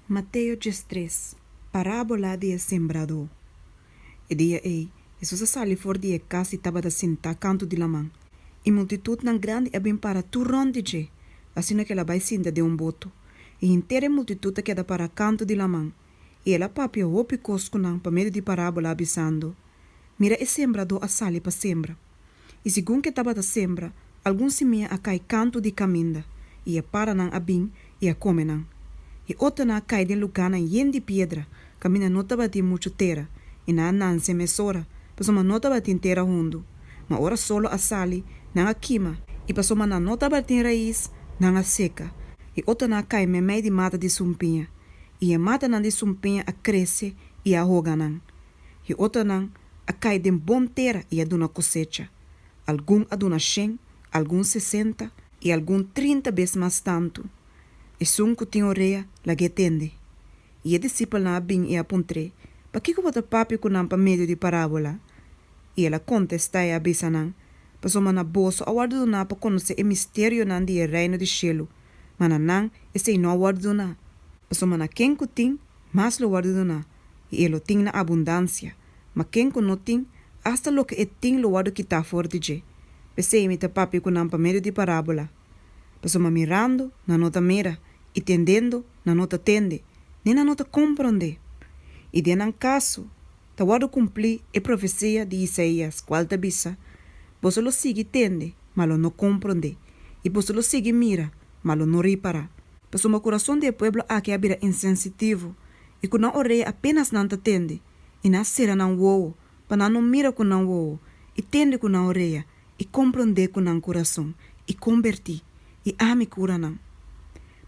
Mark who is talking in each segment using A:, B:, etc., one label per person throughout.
A: Mateo djes tres, Parábola di e sembradó E dia ei, Hesus a sali for di e kas i tabata sintá kantu di laman. I multitutnan grandi a bin para tur rònt di dje, asina ku el a bai sinta den un boto. I henter e multitut a keda pará kantu di laman, i el a papia hopi kos ku nan pa medio di parábola, a bisando, Mira e sembradó a sali pa sembra. I segun ke tabata sembra, algun simia a kai kantu di kaminda, i e paranan a bin i a kome nan. E otonan a kai den lugánan yen di piedra, kaminda no tabatin muchu tera, i nan a nanse mesora, pasobra no tabatin tera hundu. Ma ora solo a sali, nan a kima, i pasobra nan no tabatin rais, nan a seka. E otonan a kai meimei di mata di sumpiña, i e matanan di sumpiña a krese i a hoga nan. y otronan a cay den bon tera y a duna cosecha, algun a duna shen, algun sesenta, y algun trinta bes mas tantu. Esun cu tin orea, lag'é tende. Y e disipelnan a bin y a puntr'é, Pakico bo ta papia cu nan pa medio di parabola? Y el a contesta y a bisa nan, Pasobra na boso a wordo duna pa conoce e misterionan di e Reino di Cielo, ma na nan esey no a wordo duna, pasobra na ken cu tin, mas lo wordo duna. i e lo tin na abundansia, ma ken ku no tin, asta loke e tin lo wòrdu kitá for di dje. P'esei mi ta papia ku nan pa medio di parábola. Pasobra mirando, nan no ta mira, i tendendo, nan no ta tende, ni nan no ta komprondé. I den nan kaso, ta wòrdu kumplí e profesia di Isaías, kual ta bisa, Boso lo sigui tende, ma lo no komprondé, i boso lo sigui mira, ma lo no ripará. Pasobra kurason di e pueblo akí a bira insensitivo, I ku nan orea apenas nan ta tende, i nan sera nan wowo, pa nan no mira ku nan wowo, i tende ku nan orea, i komprondé ku nan kurason, i kombertí, i ami kura nan.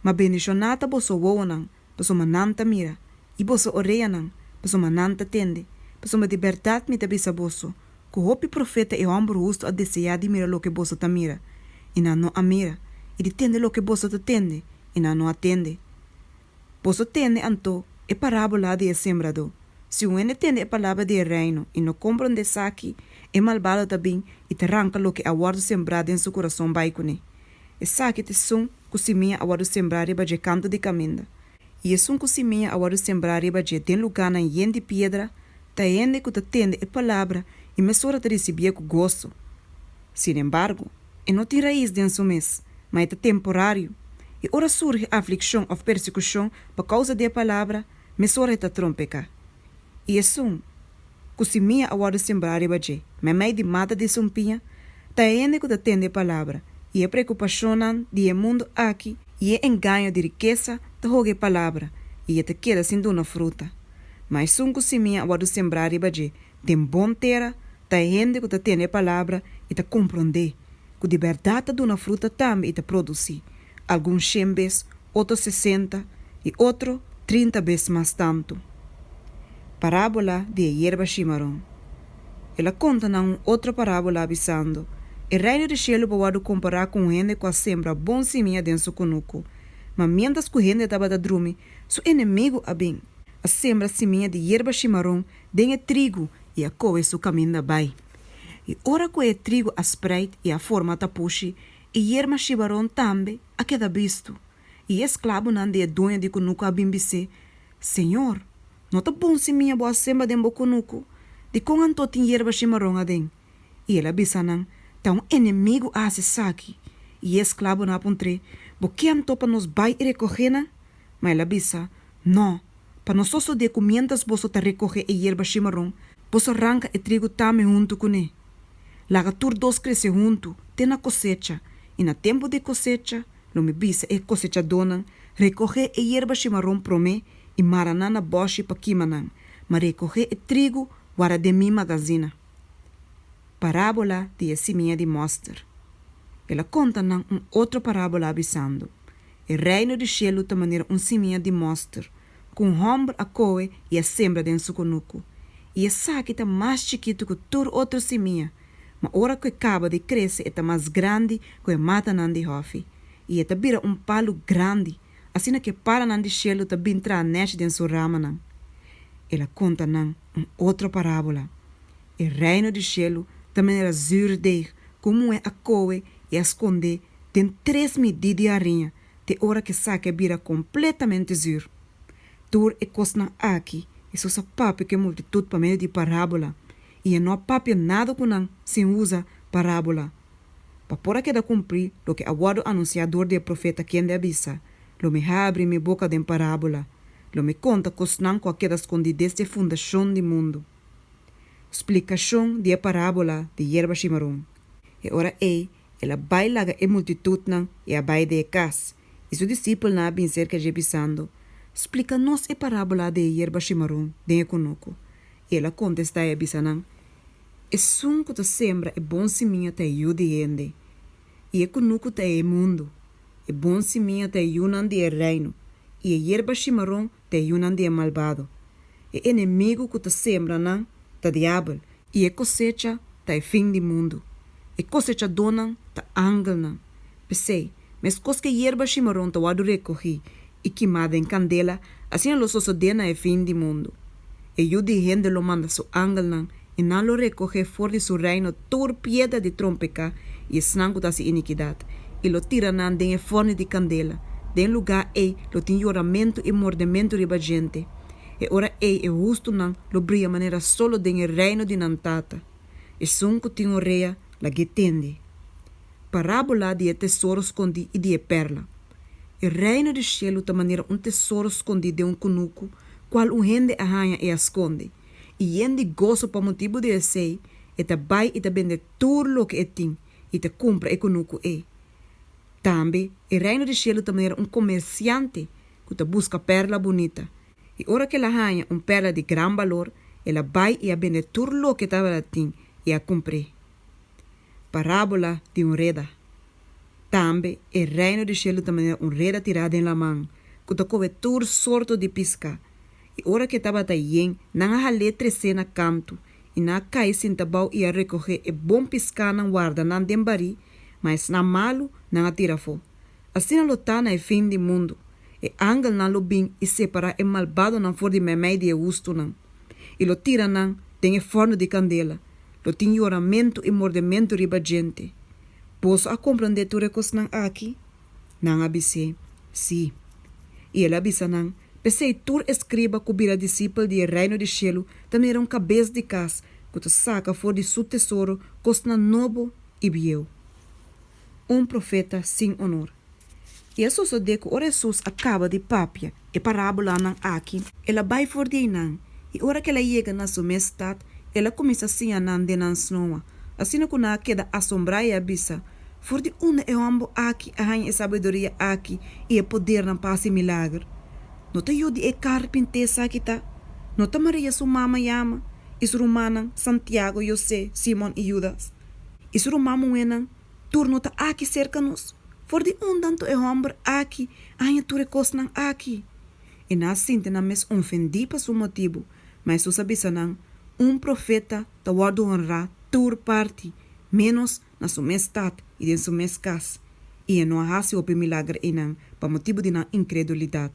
A: Ma bendishoná ta boso wowonan, pasobra nan ta mira, i boso oreanan, pasobra nan ta tende, pasobra di bèrdat mi ta bisa boso, ku hopi profeta e hòmber hustu a deseá di mira loke boso ta mira, i nan no a mira, i di tende loke boso ta tende, i nan no a tende. Boso tende anto e parábola di e sembradó. Si un hende tende e palabra di e Reino i no komprondé esaki, e malbado ta bin i ta ranka loke a wòrdu sembrá den su kurason bai kuné. Esaki ta esun ku simia a wòrdu sembrá riba dje kantu di kaminda. I esun ku simia a wòrdu sembrá riba dje den lugánan yen di piedra ta hende ku ta tende e palabra i mesora ta risibié ku goso. Sin embargo. E no tin rais den su mes, ma e ta temporario. I ora surgi afliccion of persecucion pa causa di e palabra, mesora e ta trompeca. I esun cu simia a wordo sembrá riba dje, meimei di mata di esun piña, ta e hende cu ta tende e palabra, i e preocupacionnan di e mundo aki, i e engaño di rikesa ta hoga e palabra, i e ta keda sin duna fruta. Ma esun cu simia a wordo sembrá riba dje, den bon tera ta e hende ku ta tene e palabra i ta komprondé ku di bèrdat ta duna fruta tambe i ta produsí, algun shen bes, otro sesenta i otro trinta bes mas tantu. Parábola di e yerba shimaron. El a konta nan un otro parábola bisando, E Reino di shelu por wòrdu kompará ku un hende ku a sembra bon simia den su kunuku. Ma miéntras ku hende tabata drumi, su enemigu a bin, a sembra simia di yerba shimaron den e trigu i a kohe su kaminda bai. I ora ku e trigu a spreid i a forma tapushi, e yerma shibaron tambe a keda bistu. I e sklabunan di e dueño di kunuku a bin bis'é, Señor, no ta bon si mia bo a semba den bo kunuku? Dikon anto tin yerba shimaron aden? I el a bisa nan, Ta un enemigu a hasi esaki. I e sklabunan a puntr'é, Bo ke anto pa nos bai i rekohe nan? Ma el a bisa, No, pa no sosodé ku miéntras boso ta rekohé e yerba shimaron, boso ranka e trigu tambe huntu kuné. Laga tur dos krese huntu te na kosecha, i na tempu di kosecha, lo mi bisa e kosechadónan, Rekohé e yerba shimaron promé i mara nan na bòshi pa kima nan, ma rekohé e trigu wara den mi magazina. Parábola di e simia di mòster. El a konta nan un otro parábola, bisando, E Reino di Shelu ta manera un simia di moster ku un hòmber a kohe i a sembra den su konuku. I esaki ta mas chikitu ku tur otro simia, ma ora ku e kaba di krese e ta mas grandi ku e matanan di hòfi, i e ta bira un palu grandi, asina ku e palanan di Shelu ta bin traha nechi den su ramanan. El a konta nan un otro parábola, E Reino di Shelu ta manera zùrdeeg ku un muhé a kohe i a skondé Den tres mi di di ariña te ora ku e saki a bira kompletamente zur. Tur e kosnan aki Hesus a papia ku e multitut pa medio di parábola i e no a papia nada ku nan sin usa parábola, pa por a keda kumplí loke a wòrdu anunsiá dor di e profeta kende a bisa, Lo mi habri mi boka den parábola, lo mi konta kosnan ku a keda skondí desde e fundashon di mundu. Splikashon di e parábola di yerba shimaron. E ora ei el a bai laga e multitutnan i a bai di e kas, i su disipelnan a bin serka dje bisando, Splika nos e parábola di e yerba shimaron den e konoku. I el a kontestá i a bisa nan, Esun ku ta sembra e bon simiña ta e yu di hende, i e konoku ta e mundu. E bon simiña ta e yunan di e Reino, i e yerba shimaron p'e yunan di e malbado. E enemigu ku ta sembra nan ta Diabel. I e kosecha ta e fin di mundu. E kosechadónan ta angelnan. P'esei, meskos ku e yerba shimaron ta wòrdu rekohí i kimá den kandela, asina lo sosodé na e fin di mundu. E Yu di hende lo manda su angelnan i nan lo recohe for di su reino tur piedra di trompeca i esnan cu ta haci iniquidad, i lo tira nan den e forni di candela. Den lugar ei lo tin yoramento i mordemento riba djente. E ora ei e hustunan lo bria manera solo den e reino di nan Tata. Esun cu tin orea, lag'é tende. Parabola di e tesoro scondi i di e perla. E reino di cielo ta manera un tesoro scondi den un cunucu, cual un hende a haña i a sconde. i yen di goso pa motibu di esei e ta bai i ta bende tur loke e tin i ta kumpra e kunu ku ei. Tambe e Reino di shelu ta manera un komersiante ku ta buska pèrla bunita, i ora ku el a haña un pèrla di gran balor, el a bai i a bende tur loke e tabata tin i a kumpr'é. Parábola di un reda Tambe e Reino di shelu ta manera un reda tirá den laman ku ta kobe tur sorto di piska. I ora ke tabata yen, nan a hal'é tres'é na kantu, i nan a kai sinta bou i a rekohé e bon pisk'anan warda nan den barí, ma esnan malu, nan a tira afó. Asina lo ta na e fin di mundu. E angelnan lo bin i separá e malbadonan for di meimei di e hustunan, i lo tira nan den e fòrnu di kandela. Lo tin yoramentu i mordementu riba djente. Boso a komprondé tur e kosnan aki? Nan a bis'é, Sí. I el a bisa nan, P'esei tur e skriba ku bira disipel di e Reino di shelu ta mira un kabes di kas ku ta saka for di su tesoro kosnan nobo i bieu. Un profeta sin onor. I a sosodé ku ora Hesus a kaba di papia, E parabolanan aki, el a bai for di einan, i ora ku el a yega na su mes stat, el a kuminsá siña nan den nan snoa, asina ku nan a keda asombrá i a bisa, For di unda e hòmber aki a haña e sabiduria aki i e podernan pa hasi milager? No ta yu di e karpinté sa ki ta? No ta Maria su mama yama, i su rumannan, Santiago, José, Simon i Yudas? I su ruman muhénan, Turno ta aki serka nos. For di un tanto e hòmber aki a haña tur e kosnan aki. E nan a sinti nan mes onfendí pa su motibu, ma Hesus a bisa nan, Un profeta ta wòrdu honrá tur parti, ménos na su mes stat i den su mes kas. I e no a hasi hopi milager einan pa motibu di nan inkredulidat.